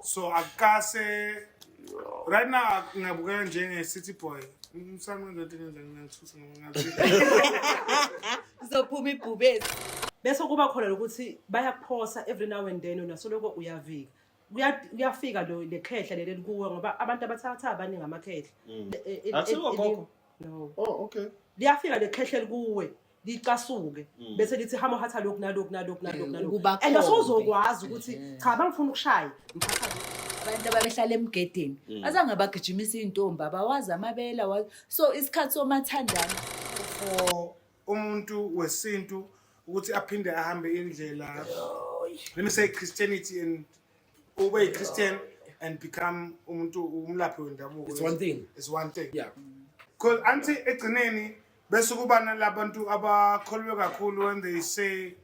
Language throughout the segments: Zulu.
so akukase right now ngingabukeka njenge-city boy umsana wenza into engenza ngingathusa Uzophuma ibhubesi. Bese kuba khona lokuthi bayakuphosa every now and then unasoloko uyavika. Kuya- Kuyafika lo lekhehla leli kuwe ngoba abantu abathatha abaningi amakhehla. Mm. E- e- e- Asikho e- gogo? No. Oh, okay. Liyafika lekhehla likuwe. licasuke mm. bese lithi hama hatha lokhu nalokhu nalokhu nalokhu nalokhu and asozokwazi ukuthi mm. cha bangifuna ukushaya abantu ababehlala emgedeni mm. azange abagijimisa iy'ntombi abawazi amabela so isikhathi somathandana for umuntu wesintu ukuthi aphinde ahambe indlela let me say christianity and ube yi-christian and become umuntu umlaphi wendabuko it's one thing it's one thing yeah because anti egcineni bese kuba nalabantu abakholwe kakhulu when they say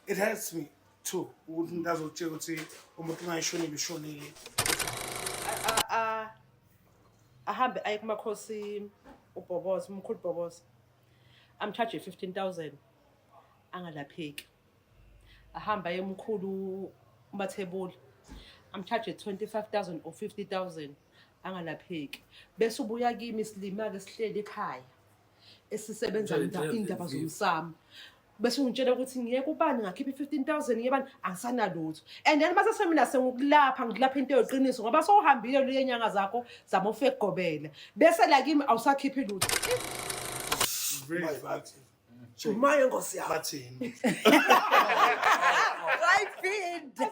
it hurts me too ukuthi umuntu azokutshela ukuthi umuntu ungayishonile ushonile A- a- ahambe aye kumakhosi ubhoboza umkhulu ubhoboza amcharge 15000 angalapheki ahamba yemkhulu umathebula amcharge 25000 or 50000 angalapheki bese ubuya kimi silima-ke sihleli ekhaya esisebenza indaba zomsamo bese ungitshela ukuthi ngiye kubani ngakhipha i-fifteen thousand ngiye bani angisanalutho and then mase semina sengikulapha ngikulapha into yoqiniso ngoba sowuhambile luye nyanga zakho zama ufekugobela bese la kimi awusakhiphi lutho Shumayo nkosi yami. Bathini? Wayiphinda.